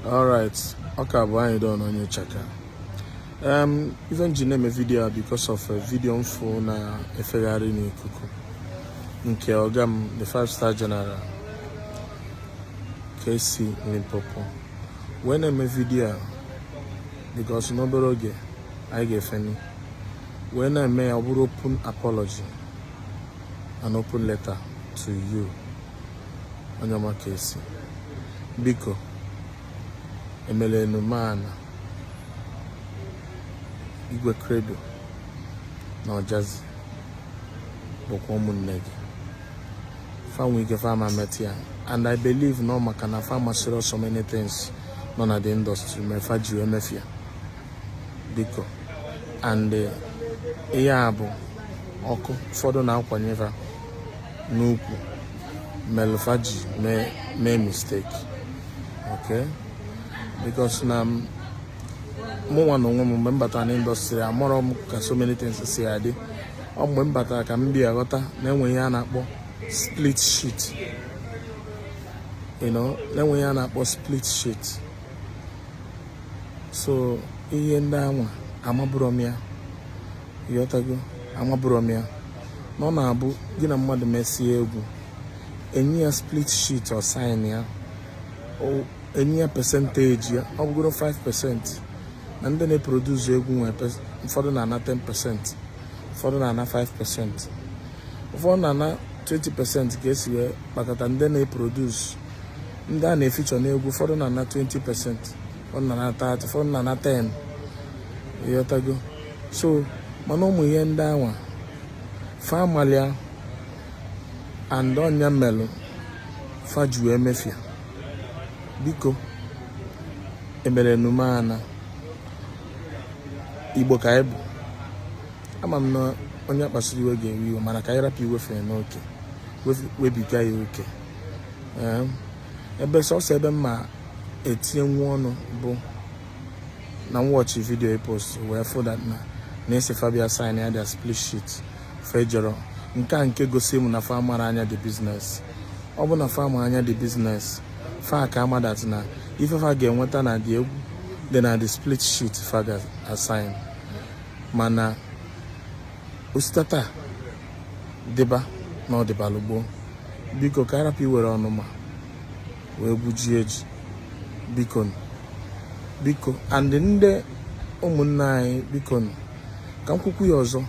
alright ọ ka bụ Anyidon onye chaka um, ife m ji na-eme vidio a because of a vidio m fụ na-efegharị n'ikuku nke ọga m the five star general KC Limpopo wee na-eme vidio a because n'obere oge anyị ga-efeni wee na-eme ya ọ bụrụ open apology an open letter to you onye ọma KC biko emele ọnụma na Igwe Credo na Ojazzy bụkwa ụmụnne gị fa nwe ike fa ama emeta ya and i believe na ọ maka na fa amasịrọ so many things nọ na the industry mee fa ji emefia biko and eh, ihe a bụ ọkụ ụfọdụ na-akwanye fa n'ukwu melụ fa ji mee mistake okay because na m- mụnwa na onwe m mgbe m batara na industry amarọ m ka so many things si adị ọ mgbe m batara ka m bịa ghọta na enwe ihe a na-akpọ split sheet you know na enwe ihe a na-akpọ split sheet so ihe ndị anwa amabụrọ m ya ị ghọtago amabụrọ m ya na ọ na-abụ gị na mmadụ mesie egwu e nye ya split sheet ọ sign ya e nye ya percentage ya ọ bụgoro 5 percent na ndị na-eproduce egwu nwee ụfọdụ na-ana 10 percent ụfọdụ na-ana 5 percent ụfọdụ na-ana 20 percent ka e si wee kpakọta ndị na-eproduce ndị a na-efeature n'egwu ụfọdụ na-ana 20 percent ụfọdụ na-ana 30 ụfọdụ na-ana 10 ị ghọtago so mana ụmụ ihe ndị anwa fa amarọ ya and ọ nya melụ fa ji emefia biko emele ọnụma na igbo ka anyị bụ ama m na onye kpasuru iwe ga-ewe iwe mana ka anyị rapụ iwefe n'oke webiga ya oke ebe sọsọ ebe m ma etinye nwa ọnụ bụ na m watchị vidio ị post wee fụ that na a sị fa bịa sign ya their split sheet fa ejerọ nke a nke gosi m na fa amarọ anya the business ọ bụ na fa ma anya the business fa ka ama that na ife fa ga-enweta na the egwu dị na the split sheet fa ga-asign mana o si taa taa dịba na ọ dịbalụ gboo biko ka a rapụ iwere ọnụma wee gbujie ji biko biko and ndị ụmụnne anyị biko ka m kwukwu ya ọzọ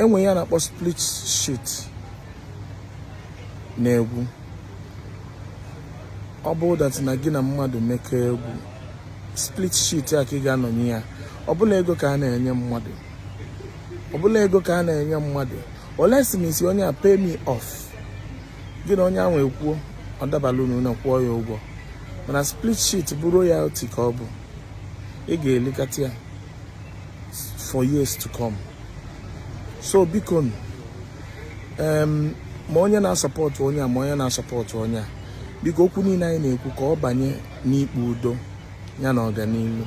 enwe ihe a na-akpọ split sheet na egwu ọ bụ that na gị na mmadụ mekọ egwu split sheet a ka ị ga-anọnye ya ọ bụrọ ego ka a na-enye mmadụ ọ bụrọ ego ka a na-enye mmadụ unless ị sị onye a pay me off gị na onye ahụ ekwuo ọ dabala unu na kwụọ ya ụgwọ mana split sheet bụ royalty ka ọ bụ ị ga-elikata ya for years to come so biko ma onye na-asupport onye a ma onye na-asupport onye a biko okwu niile anyị na-ekwu ka ọ banye n'ikpe udo ya na ọganihu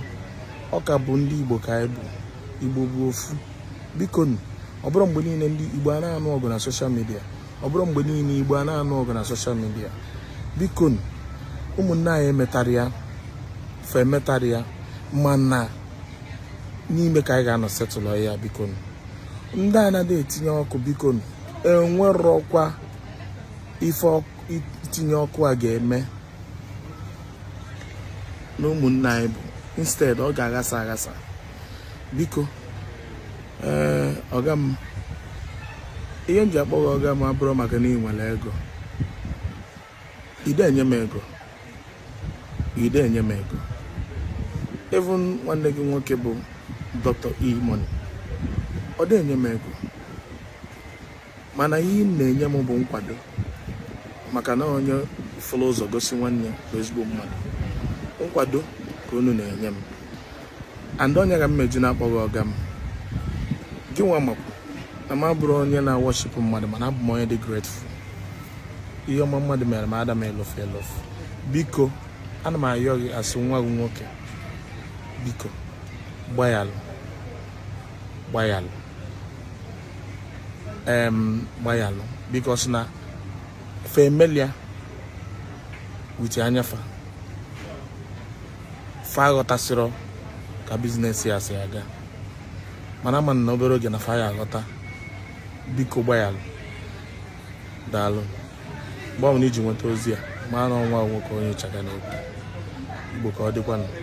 ọ ka bụ ndị Igbo ka anyị bụ Igbo bụ ofu biko ọ bụrọ mgbe niile ndị Igbo a na-anụ ọgụ na social media ọ bụrọ mgbe niile Igbo a na-anụ ọgụ na social media biko ụmụnne anyị emetarọ ya fa emetarọ ya mana n'ime ka anyị ga-anọ settle ya biko ndị a na-adị etinye ọkụ biko enwerọkwa ife itinye ọkụ a ga-eme na ụmụnne anyị but instead ọ ga-aghasa aghasa biko ee ọga m ihe m ji akpọ gị ọga m abụrọ maka na ị nwere ego ị dị enye m ego ị dị enye m ego even nwanne gị nwoke bụ Dr E-Money ọ dị enye m ego mana ihe unu na-enye m bụ nkwado maka na onye fụlụ ụzọ gosi nwanne bụ ezigbo mmadụ nkwado ka unu na-enye m and ọ nya ka m eji na-akpọ gị ọga m gị nwa makwu na m abụrọ onye na-aworship mmadụ mana abụ m onye dị grateful ihe ọma mmadụ mere m ada m elofu elofu biko ana m ayọ gị as nwa gị nwoke biko gbayalụ gbayalụ gbayalụ because na familiar with anyafa fa aghọtasịrọ ka business ya si aga mana ama m na obere oge na fa ya aghọta biko gbayalụ daalụ mgbe ọbụla ị ji nweta ozi a maa na ọ nwa nwoke onye Ichaka na-ekwu Igbo ka ọ dịkwanụ